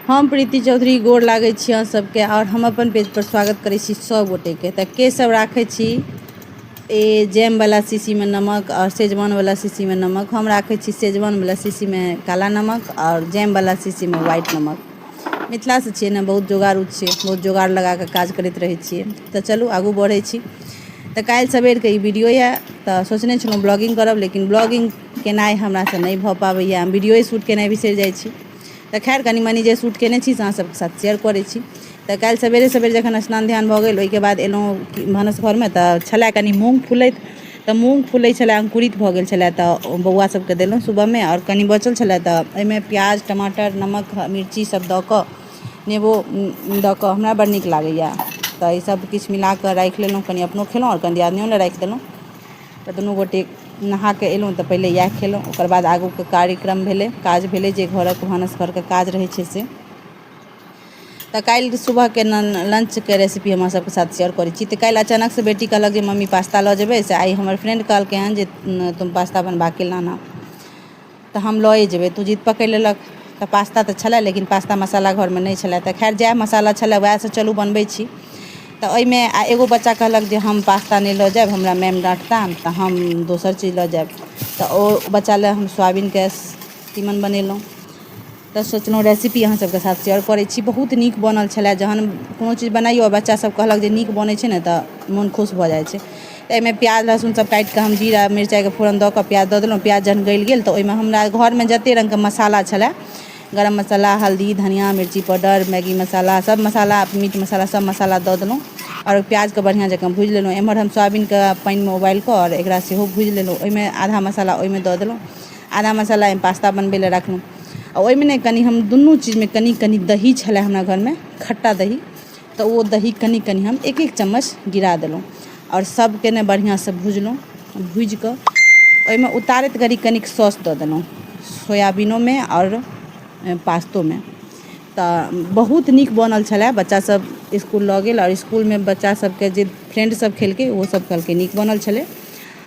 हम प्रीति चौधरी गोर लागै छी अहाँ सबके आओर हम अपन पेज पर स्वागत करै छी सभ गोटेके तऽ के सब राखै छी ए जैमवला शीशीमे नमक आओर सेजवानवला शीशीमे नमक हम राखै छी सेजवानवला शीशीमे काला नमक आओर जैमवला शीशीमे व्हाइट नमक मिथिलासँ छियै ने बहुत जोगाड़ू छियै बहुत जोगाड़ लगा कऽ काज करैत रहै छियै तऽ चलू आगू बढ़ै छी तऽ काल्हि सवेरके ई वीडियो यए तऽ सोचने छलहुँ ब्लॉगिंग करब लेकिन ब्लॉगिंग केनाइ हमरासँ नहि भऽ पाबैए हम वीडियोए शूट केनाइ बिसरि जाइ छी तऽ खैर कनि मनि जे शूट केने छी से अहाँसभके साथ शेयर करै छी तऽ काल्हि सवेरे सवेरे जखन स्नान ध्यान भऽ गेल ओहिके बाद एलहुँ भानस घरमे तऽ छलए कनि मूँग फुलैत तऽ मूँग फुलै छलए अंकुरित भऽ गेल छलए तऽ बौआ सभके देलहुँ सुबहमे आओर कनि बचल छलए तऽ ओहिमे प्याज टमाटर नमक मिर्ची सभ दऽ कऽ नेबो दऽ कऽ हमरा बड़ नीक लागैए तऽ ईसभ किछु मिला कऽ राखि लेलहुँ कनि अपनो खेलहुँ आओर कनि दियादनिओ लए राखि देलहुँ तऽ दुनू गोटे नहा कऽ एलहुँ तऽ पहिले इएह खेलहुँ ओकर बाद आगूके कार्यक्रम भेलै काज भेलै जे घरक भानस घरके काज रहै छै से तऽ काल्हि सुबहके लंचके रेसिपी हम अहाँ सभके साथ शेयर करै छी तऽ काल्हि अचानकसँ बेटी कहलक जे मम्मी पास्ता लऽ जेबै से आइ हमर फ्रेंड कहलकै हन जे तुम पास्ता बनवा के लाना तऽ हम लए जेबै तू जिद पकड़ि लेलक तऽ पास्ता तऽ छलै लेकिन पास्ता मसाला घरमे नहि छलै तऽ खैर जएह मसाला छलै वएहसँ चलू बनबै छी तऽ ओहिमे आ एगो बच्चा कहलक जे हम पास्ता नहि लऽ जाएब हमरा मैम डाँटता तऽ हम दोसर चीज लऽ जाएब तऽ ओ बच्चा लए हम सोयाबीनके तीमन बनेलहुँ तऽ सोचलहुँ रेसिपी अहाँ सबके साथ शेयर करै छी बहुत नीक बनल छलै जहन कोनो चीज बनाइऔ आओर बच्चा सब कहलक जे नीक बनै छै ने तऽ मोन खुश भऽ जाइ छै एहिमे प्याज लहसुन सब काटिकऽ हम जीरा मिरचाइके फोरन दऽ कऽ प्याज दऽ देलहुँ प्याज जहन गलि गेल तऽ ओहिमे हमरा घरमे जते रङ्गके मसाला छलै गरम मसाला हल्दी धनिआ मिरची पाउडर मैगी मसाला सब मसाला मीट मसाला सब मसाला दऽ देलहुँ आओर प्याजके बढ़िआँ जकाँ भुजि लेलहुँ एम्हर हम सोयाबीनके पानिमे उबालिकऽ आओर एकरा सेहो भुजि लेलहुँ ओहिमे आधा मसाला ओहिमे दऽ देलहुँ आदा मसाला एहिमे पास्ता बनबै लए रखलहुँ आ ओहिमे ने कनि हम दुनू चीजमे कनि कनि दही छलै हमरा घरमे खट्टा दही तऽ ओ दही कनि कनि हम एक एक चम्मच गिरा देलहुँ आओर सभके ने बढ़िआँसँ भुजलहुँ भुजि कऽ ओहिमे उतारैत घड़ी कनिक सॉस दऽ देलहुँ सोयाबीनोमे आओर पास्तोमे तऽ बहुत नीक बनल छलै बच्चासभ इसकुल लऽ गेल आओर इसकुलमे बच्चासभके जे फ्रेंडसभ खेलकै ओहोसभ कहलकै नीक बनल छलै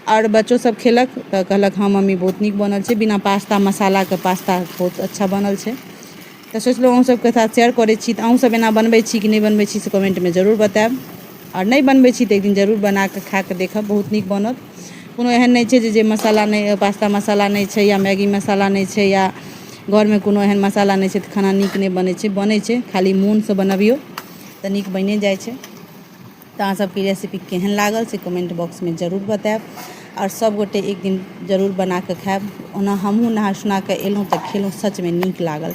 आओर बच्चो सब खेलक तऽ कहलक हँ मम्मी बहुत नीक बनल छै बिना पास्ता मसालाके पास्ता बहुत अच्छा बनल छै तऽ सोचलहुँ अहूँ सबके साथ शेयर करै छी तऽ अहूँ सब एना बनबै छी कि नहि बनबै छी से कमेन्टमे जरूर बताएब आओर नहि बनबै छी तऽ एकदिन जरूर बनाकऽ खाकऽ देखब बहुत नीक बनत कोनो एहन नहि छै जे जे मसाला नहि पास्ता मसाला नहि छै या मैगी मसाला नहि छै या घरमे कोनो एहन मसाला नहि छै तऽ खाना नीक नहि बनै छै बनै छै खाली मोनसँ बनबिऔ तऽ नीक बनिए जाइ छै तऽ अहाँ सबके ई रेसिपी केहन लागल से कमेन्ट बॉक्समे जरूर बताएब आओर सब गोटे एक दिन जरूर बनाकऽ खाएब ओना हमहूँ नहा सुनाकऽ अएलहुँ तऽ खेलहुँ सचमे नीक लागल